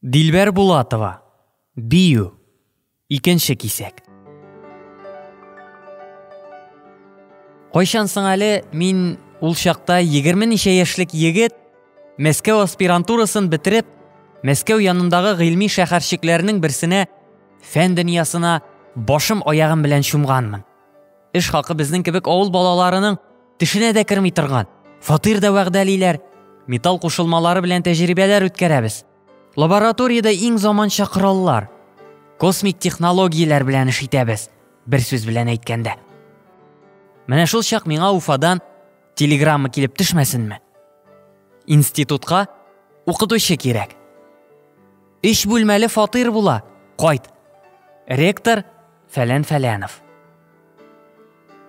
Дилбәр Булатова, бию, икенче кисәк. Кайчан соң әле мин ул чакта егерме ничә яшьлек егет Мәскәү аспирантурасын бетереп, Мәскәү янындагы гыйльми шәһәрчекләрнең берсенә фән дөньясына башым аягым белән чумганмын. Эш хакы безнең кебек авыл балаларының тешенә дә керми торган. Фатир да вәгъдәлиләр. Металл кушылмалары белән тәҗрибәләр үткәрәбез. Лабораториядә иң заманча кораллар, космик технологияләр белән эш итәбез. Бер сүз белән әйткәндә. Менә шул чак миңа Уфадан телеграмма килеп төшмәсенме? Институтка укытучы кирәк. Өч бүлмәле фатир була. Кайт. Ректор Фәлән Фәләнов.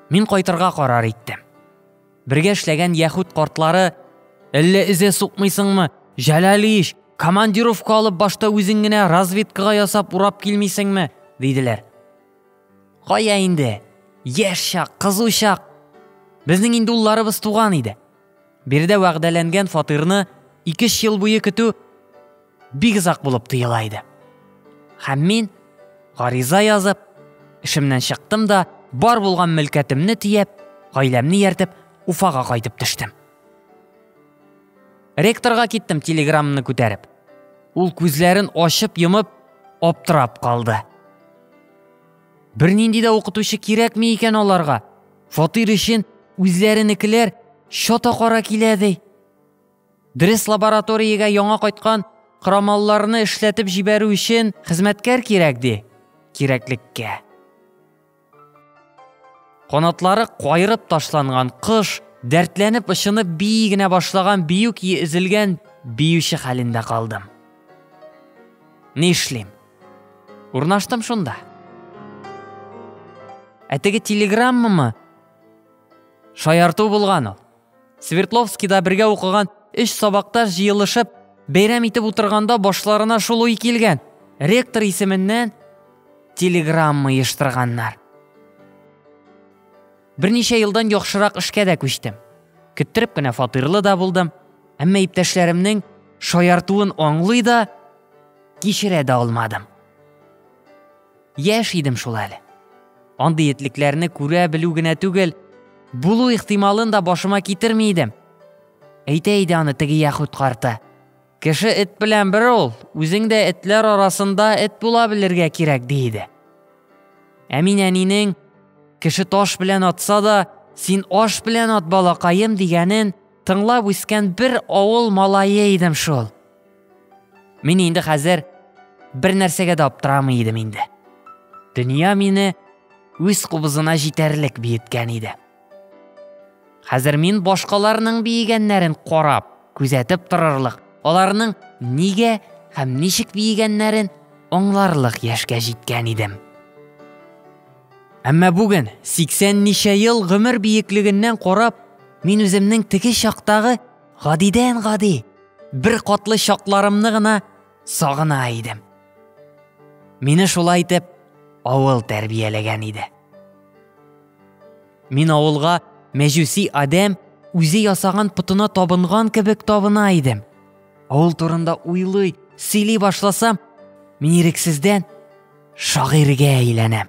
Мин кайтырга карар иттем. Бергә эшләгән яхүд картлары Әллә эзе сукмыйсыңмы? Җәләлич, командировка алып башта үзең генә разведкага ясап урап килмисеңме? диделәр. Кая инде? Яшь чак, кызу чак. Безнең инде улларыбыз туган иде. Биредә вәгъдәләнгән фатирны 2 ел буе көтү бик озак булып тоела иде. Һәм мин, гариза язып, эшемнән чыктым да, бар булган мөлкәтемне тиеп, гаиләмне яртып, Уфага кайтып төштем. Ректорга киттем телеграммны күтәреп. Ул күзләрен ачып йомып, аптырап калды. Бернинди дә укытучы кирәкме икән аларга? Фатир өчен үзләренекеләр чата кара килә ди. Дөрес лабораториягә яңа кайткан крамалларны эшләтеп җибәрү өчен хезмәткәр кирәк ди. Кирәклеккә. Канатлары кайрып ташланган кош, дәртләнеп очынып бии генә башлаган бию кие өзелгән биюче хәлендә калдым. Ни эшлим? Урнаштым шунда. Ә теге телеграммамы? Шаярту булган ул. Свердловскида бергә укыган өч сабакташ җыелышып, бәйрәм итеп утырганда башларына шул уй килгән. Ректор исеменнән телеграмма ештырганнар. Берничә елдан яхшырак эшкә дә күчтем. Көттереп кенә фатирлы да булдым. Әмма иптәшләремнең шаяртуын аңлый да, кичерә дә алмадым. Яшь идем шул әле. Андый этлекләрне күрә белү генә түгел, булу ихтималын да башыма китерми идем. Әйтә иде аны теге яхүт карты. Кеше эт белән бер ул, үзең дә этләр арасында эт була белергә кирәк ди иде. Ә мин әнинең кеше таш белән атса да, син аш белән ат балакаем дигәнен тыңлап үскән бер авыл малае идем шул. Мин инде хәзер бер нәрсәгә дә аптырамый идем инде. Дөнья мине үз кубызына җитәрлек биеткән иде. Хәзер мин башкаларның биегәннәрен карап, күзәтеп торырлык, аларның нигә һәм ничек биегәннәрен аңларлык яшькә җиткән идем. Әмма бүген 80 ничә ел гомер биеклегеннән карап, мин үземнең теге чактагы Гадидән гади бер катлы чакларымны гына сагына идем. Мине шулай итеп авыл тәрбияләгән иде. Мин авылга мәҗүси адәм үзе ясаган путына табынган кебек табына идем. Авыл турында уйлый, сөйли башласам, мин ирексездән шагыйрьгә әйләнәм.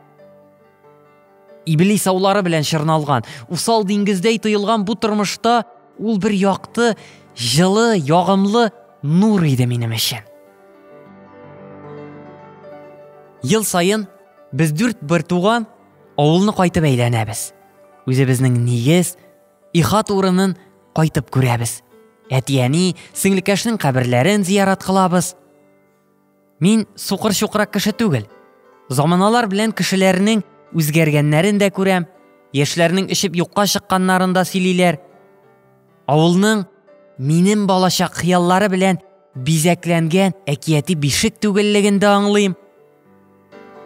Иблис аулары белән чорналган, усал диңгездәй тоелган бу тормышта ул бер якты, җылы, ягымлы нур иде минем өчен. Ел саен без дүрт бертуган авылны кайтып әйләнәбез. Үзебезнең нигез, ихат урынын кайтып күрәбез. Әтияни, сеңлекәшнең каберләрен зиярат кылабыз. Мин сукыр-чукрак кеше түгел. Заманалар белән кешеләрнең үзгәргәннәрен дә күрәм, яшьләрнең эчеп юкка чыкканнарын да сөйлиләр. Авылның минем балачак хыяллары белән бизәкләнгән әкияти бишек түгеллеген дә аңлыйм.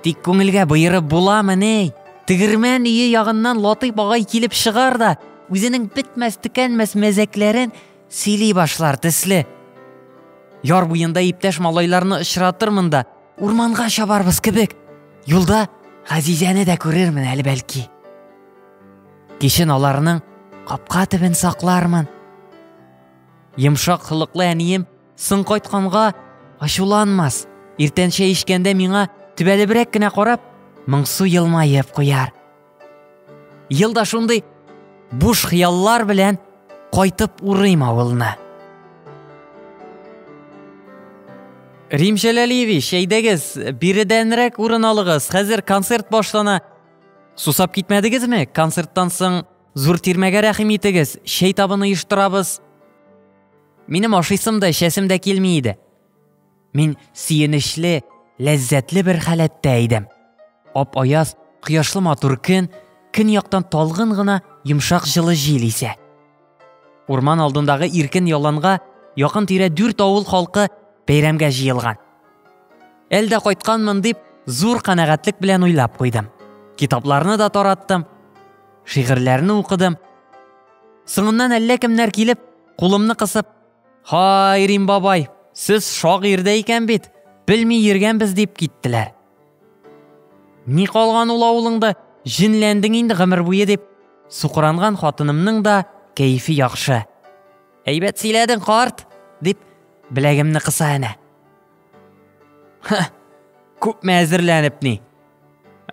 Тик күңелгә боерып буламы ни? Тегермән өе ягыннан Латыйп агай килеп чыгар да, үзенең бетмәс-төкәнмәс мәзәкләрен сөйли башлар төсле. Яр буенда иптәш малайларны очратырмын да, урманга чабарбыз кебек. Юлда Газизәне дә күрермен әле бәлки. Кичен аларның капка төбен саклармын. Йомшак холыклы әнием Соң кайтканга ачуланмас. Иртәнчә ишкәндә миңа төбәлебрәк кенә карап, моңсу елмаеп куяр. Елда шундый буш хыяллар белән кайтып урыйм авылны. Рим Җәләлиевич, әйдәгез, биредәнрәк урын алыгыз. Хәзер концерт башлана. Сусап китмәдегезме? Концерттан соң Зур тирмәгә рәхим итегез, чәй табын оештырабыз. Минем ашыйсым да, эчәсем дә килми иде. Мин сөенечле, ләззәтле бер халәттә идем. Ап аяз, кояшлы матур көн, көн яктан талгын гына йомшак җылы җил исә. Урман алдындагы иркен яланга якын тирә дүрт авыл халкы бәйрәмгә җыелган. Әлдә кайтканмын дип, зур канәгатьлек белән уйлап куйдым. Китапларны да тараттым, Шигырьләрне укыдым. Соңыннан әллә кемнәр килеп, кулымны кысып, «Һай, Рим бабай, сез шагыйрь дә икән бит, белми йөргәнбез» дип киттеләр. Ни калган ул авылыңда, җенләндең инде гомер буе дип, сукыранган хатынымның да кәефе яхшы. Әйбәт сөйләдең, карт, дип, беләгемне кыса әнә. Ха, күпме әзерләнеп ни?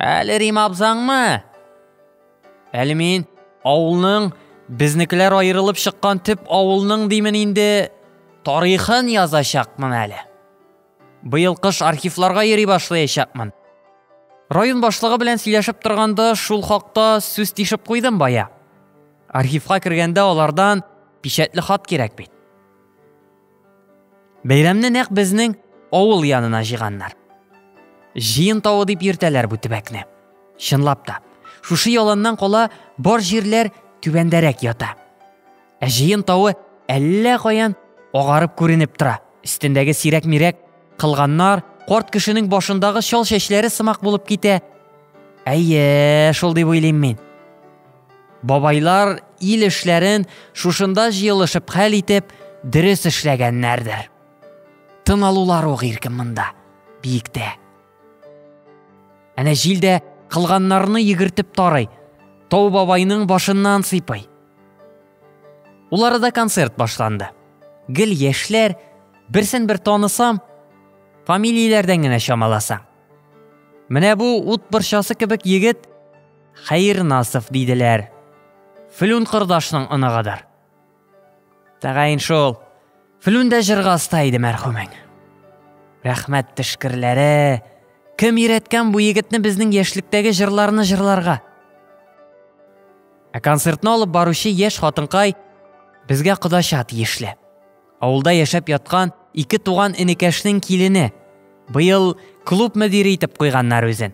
Әле Рим абзаңмы? Әле мин авылның безнекеләр аерылып чыккан төп авылның димен инде тарихын язачакмын әле. Быел кыш архивларга йөри башлаячакмын. Район башлыгы белән сөйләшеп торганда шул хакта сүз тишеп куйдым бая. Архивка кергәндә алардан печәтле хат кирәк бит. Бәйрәмне нәкъ безнең авыл янына җыйганнар. Җыен тавы дип йөртәләр бу төбәкне. Чынлап та, шушы яланнан кала бар җирләр түбәндәрәк ята. Ә җыен тавы әллә каян агарып күренеп тора. Өстендәге сирәк-мирәк кылганнар карт кешенең башындагы чал чәчләре сымак булып китә. Әйе, шул дип уйлыйм мин. Бабайлар ил эшләрен шушында җыелышып хәл итеп, дөрес эшләгәннәрдер. Тын алулар ук иркен монда, биектә. Әнә җил дә кылганнарны егертеп тарый, Тау бабайның башыннан сыйпый. Уларыда концерт башланды. Гел яшьләр, берсен бер танысам, фамилияләрдән генә чамаласаң. Менә бу ут борчасы кебек егет Хәернасов диделәр. Флүн кордашның оныгыдыр. Тәгаен шул. Флүн дә җырга оста иде мәрхүмең. Рәхмәт тешкерләре. Кем өйрәткән бу егетне безнең яшьлектәге җырларны җырларга? Ә концертны алып баручы яшь хатынкай безгә кодача тиешле. Авылда яшәп яткан ике туган энекәшнең килене. Быел клуб мөдире итеп куйганнар үзен.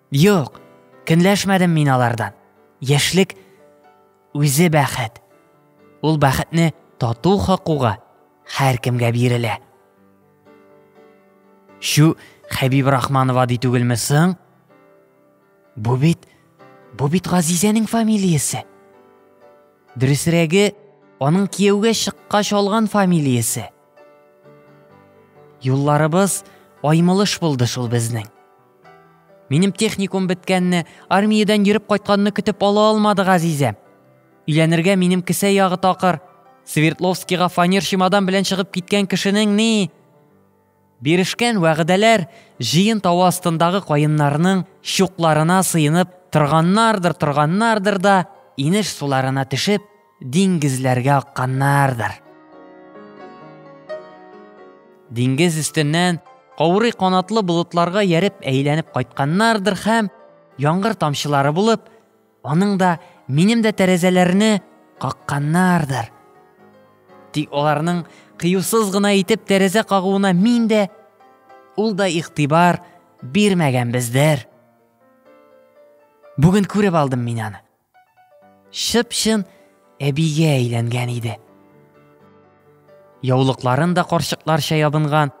Юк, көнләшмәдем мин алардан. Яшьлек үзе бәхет. Ул бәхетне тату хакуга һәркемгә бирелә. Шу Хәбиб Рахманова ди түгелме соң? Бу бит, бу бит Газизәнең фамилиясе. Дөресрәге, аның кияүгә чыккач алган фамилиясе. Юлларыбыз аймылыш булды шул безнең. Минем техникум беткәнне, армиядән йөреп кайтканны көтеп ала алмады Газизә. Өйләнергә минем кесә ягы такыр. Свердловскига фанер чемодан белән чыгып киткән кешенең ни? Бирешкән вәгъдәләр җыен тавы астындагы каеннарның чукларына сыенып торганнардыр, торганнардыр да, инеш суларына төшеп, Диңгезләргә акканнардыр. Диңгез өстеннән каурый канатлы болытларга яреп әйләнеп кайтканнардыр һәм, яңгыр тамчылары булып, аның да, минем дә тәрәзәләрне какканнардыр. Тик аларның кыюсыз гына итеп тәрәзә кагуына мин дә, ул да игътибар бирмәгәнбездер. Бүген күреп алдым мин аны. Чып-чын әбигә әйләнгән иде. Яулыкларын да карчыкларча ябынган.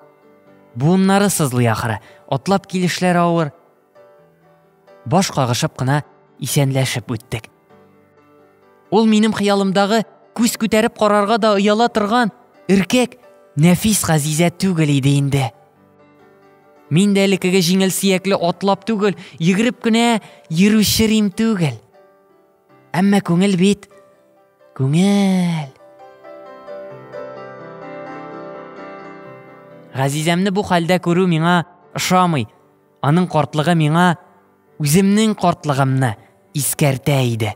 Буыннары сызлый ахыры, атлап килешләре авыр. Баш кагышып кына исәнләшеп үттек. Ул минем хыялымдагы күз күтәреп карарга да ояла торган, эркәк, нәфис газизә түгел иде инде. Мин дә элеккеге җиңел сиякле атлап түгел, йөгереп кенә йөрүче рим түгел. Әмма күңел бит, күңел. Газизәмне бу хәлдә күрү миңа ошамый. Аның картлыгы миңа үземнең картлыгымны искәртә иде.